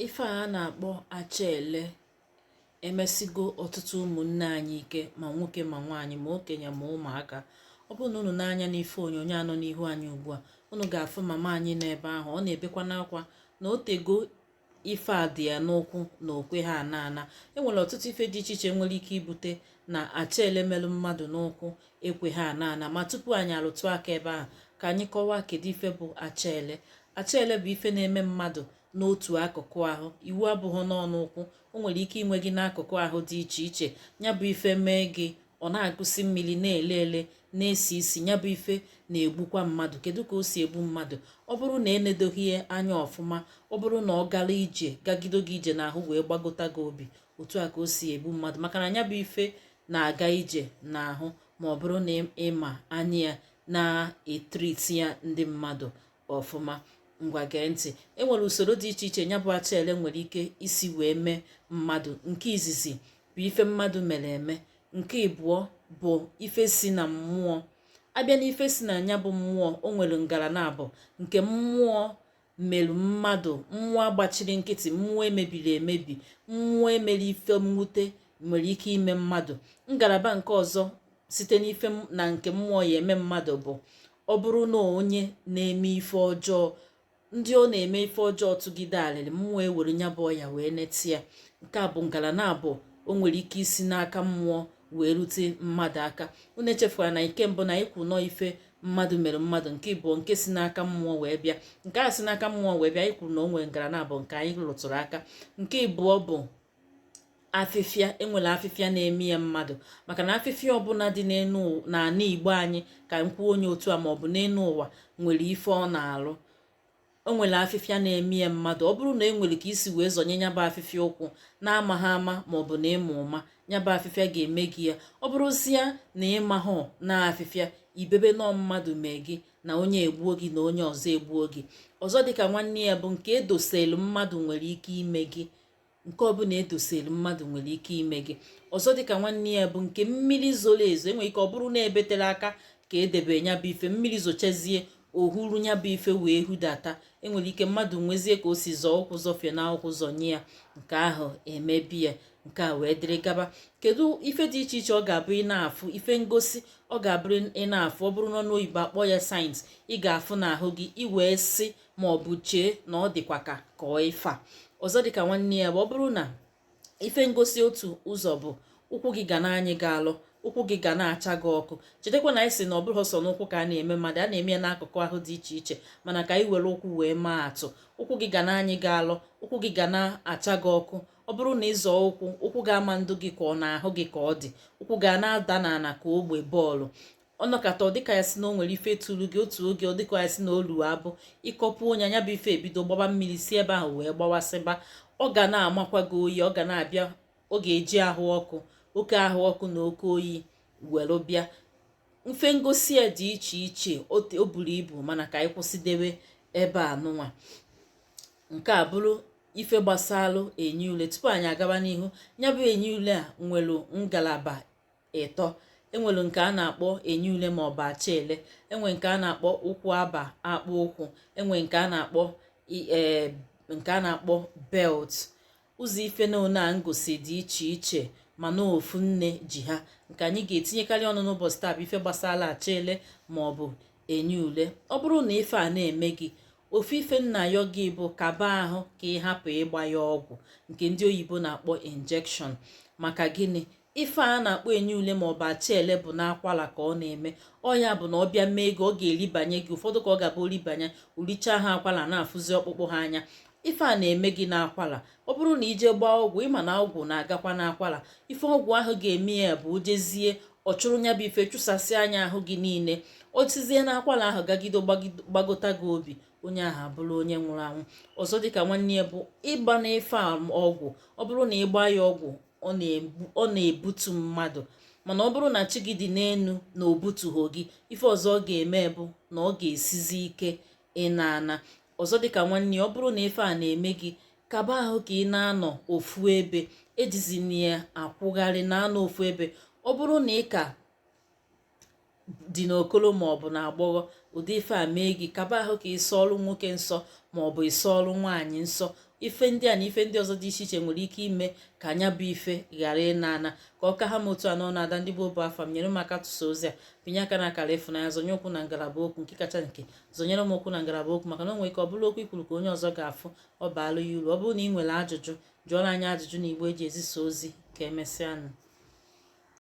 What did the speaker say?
ife a na-akpọ achaele emesigo ọtụtụ ụmụnne anyị ike ma nwoke ma nwaanyị ma okenye ma ụmụaka ọ bụrụ na unu ne anya n'ife onyonyo a nọ n'ihu anyị ugbu a unu ga-afụ mama anyị n'ebe ahụ ọ na-ebekwanụ akwa na o tego ife a dị ya n'ụkwụ na o kweha ana ana enwere ọtụtụ ife dị iche iche nwere ike ibute na achaele melụ mmadụ n'ụkwụ ekweghị ana ana ma tupu anyị alụtụ aka ebe ahụ ka anyị kọwaa kedu ife bụ achaele achaele bụ ife na-eme mmadụ n'otu akụkụ ahụ iwu abụghị na ọ n'ụkwụ o nwere ike ime gị n'akụkụ ahụ dị iche iche ya bụ ife mee gị ọ na-agụsi mmiri na-ele ele na-esi isi ya bụ ife na-egbukwa mmadụ kedu ka o si egbu mmadụ ọ bụrụ na enedoghị ya anya ọfụma ọ bụrụ na ọ gara ije gagido gị ije n'ahụ wee gbagota gị obi otu a ka o si egbu mmadụ maka na nya bụ ife na-aga ije n'ahụ ma ọ bụrụ na ị ma onye na-etriti ya ndị mmadụ ọfụma ngwa gee ntị enwere usoro dị iche iche nya bụ achaele nwere ike isi wee mee mmadụ nke izizi bụ ife mmadụ mere eme nke ịbụọ bụ ife si na mmụọ a bịa na ife si na nya bụ mmụọ o nwere ngalaba naabọ nke mmụọ merụ mmadụ mmụọ agbachiri nkịtị mmụọ emebiri emebi mmụọ emere ife mwute nwere ike ime mmadụ ngalaba nke ọzọ site n'ife na nke mmụọ ya eme mmadụ bụ ọ bụrụ na onye na-eme ife ọjọọ ndị ọ na-eme ife ọjọọ tụgide alịrị mmụọ ewere nya bụ ọya wee neti ya nke a bụ ngalaba naabọ o nwere ike isi n'aka mmụọ wee rute mmadụ aka unu echefula na nke mbụ anyị kwu na ọ ife mmadụ mere mmadụ nke ịbụọ nke si n'aka mmụọ wee bịa nke a si n'aka mmụọ wee bịa anyị kwuru na o nwere ngalaba naabọ nke anyị rụtụrụ aka nke ịbụọ bụ afịfịa enwere afịfịa na-eme ya mmadụ maka na afịfịa ọbụla dị n'ala igbo anyị ka m kwuo ya otu a maọbụ n'elu ụwa nwere ife ọ na-alụ o nwere afịfịa na-eme ya mmadụ ọ bụrụ na e nwere ka i si wee zọnye nya bụ afịfịa ụkwụ na-amaghị ama ma ọ bụ na ị ma ụma nya bụ afịfịa ga-eme gị ya ọ bụrụzia na ị mahụ na afịfịa i bebe na ọ mmadụ mee gị na onye egbuo gị na onye ọzọ egbuo gị ọzọ dịka nwanne ya bụ nke edoselu mmadụ nwere ike ime gị nke ọbụla edoselu mmadụ nwere ike ime gị ọzọ dịka nwanne ya bụ nke mmiri zoro ezo enwere ike ọ bụrụ na ebe tere aka ka edebe ya bụ ife mmiri zochazie o huru ya bụ ife wee hudata enwere ike mmadụ nwezie ka o si zọọ ụkwụ zọfie na ụkwụ zọnye ya nke ahụ emebi ya nke a wee dịrị gaba kedu ife dị iche iche ọ ga-abụ ị na-afụ ife ngosi ọ ga-abụrụ ị na-afụ ọ bụrụ n'ọnụ oyibo a kpọ ya signs ị ga-afụ n'ahụ gị ị wee sị ma ọ bụ chee na ọ dịkwa ka ka ọ ife a ọzọ dịka nwanne ya bụ ọ bụrụ na ife ngosi otu ụzọ bụ ụkwụ gị ga na-anyị gị alụ ụkwụ gị ga na-acha gị ọkụ chetakwa na anyị si na ọ bụrọ sọ n'ụkwụ ka ọ na-eme mmadụ ọ na-eme ya n'akụkụ ahụ dị iche iche mana ka anyị were ụkwụ wee maa atụ ụkwụ gị ga na-anyị gị alụ ụkwụ gị ga na-acha gị ọkụ ọ bụrụ na ịzọ ụkwụ ụkwụ gị ama na-adị gị ka ọ n'ahụ gị ka ọ dị ụkwụ ga na-ada n'ala ka ogbe bọọlụ ọ nọkata ọ dịka a sị na o nwere ife tụrụ gị otu oge ọ dịka a sị na olu abụ ịkọpụ ọnya nya bụ ife ebido gbaba mmiri si ebe ahụ wee gbawasịba ọ ga na-amakwa gị oyi ọ ga na-abịa ọ ga-eji ahụ ọkụ oke ahụ ọkụ na oke oyi were bịa ife ngosi ya dị iche iche o buru ibu mana ka anyị kwụsịdebe ebe a nụnwa nke a bụrụ ife gbasalụ enyi ule tupu anyị agaba n'ihu ya bụ enyi ule a nwere ngalaba ịtọ e nwere nke a na-akpọ enyi ule ma ọ bụ acha ele e nwee nke a na-akpọ ụkwụ aba akpụ ụkwụ e nwee nke a na-akpọ e, nke a na-akpọ belt ụzọ ife ndị a nwere ngosi dị iche iche mana ofu nne ji ha nke anyị ga-etinyekarị ọnụ n'ụbọchị taa bụ ife gbasara acha ele ma ọ bụ enyi ule ọ bụrụ na ife a na-eme gị ofu ife m na-ayọ gị bụ kaba ahụ ka ị hapụ ịgba ya ọgwụ nke ndị oyibo na-akpọ injection maka gịnị ife a na-akpọ enyi ule ma ọ bụ acha ele bụ n'akwala ka ọ na-eme ọ ya bụ na ọ bịa mee gị ọ ga-eribanye gị ụfọdụ ka ọ ga-abụ o ribanye o richaa ha akwala a na-afụzi ọkpụkpụ ha anya ife a na-eme gị n'akwala ọ bụrụ na i jee gbaa ọgwụ ị ma na ọgwụ na-agakwa n'akwala ife ọgwụ ahụ ga-eme ya bụ o jezie ọ chụrụ nya bụ ife chụsasịa nya ahụ gị niile o sizie n'akwala ahụ gagido gbagota gị obi onye ahụ abụrụ onye nwụrụ anwụ ọzọ dịka nwanne ya bụ ịgba n'ife ọgwụ ọ bụrụ na ịgba ya ọgwụ ọ na-ebutu mmadụ mana ọ bụrụ na chi gị dị n'enu na o butuhọ gị ife ọzọ ọ ga-eme bụ na ọ ga-esizi ike ịna ana ọzọ dịka nwanne ya ọ bụrụ na ife a na-eme gị kaba ahụ ka ị na-anọ ofu ebe ejizina ya akwụgharị na-anọ ofu ebe ọ bụrụ na ị ka dị n'okolo ma ọ bụ n'agbọghọ ụdị ife a mee gị kaba ahụ ka ị sọọlụ nwoke nsọ ma ọ bụ ị sọọlụ nwaanyị nsọ ife ndị a na ife ndị ọzọ dị iche iche nwere ike ime ka nya bụ ife ghara ịna ana ka ọ ka ha m otu a n'ọnụ ada ndị igbo bụ afa m nyere m aka tụsa ozi a pịnye aka n'akara ịfụnanya zonye okwu na ngalaba okwu nke kacha nke zonyere m okwu na ngalaba okwu maka na o nwere ike ọ bụrụ okwu i kwuru ka onye ọzọ ga-afụ ọ baalụ ya uru ọ bụrụ na ị nwere ajụjụ jụọrọ anyị ajụjụ n'igbe e ji ezisa ozi ka emesịanụ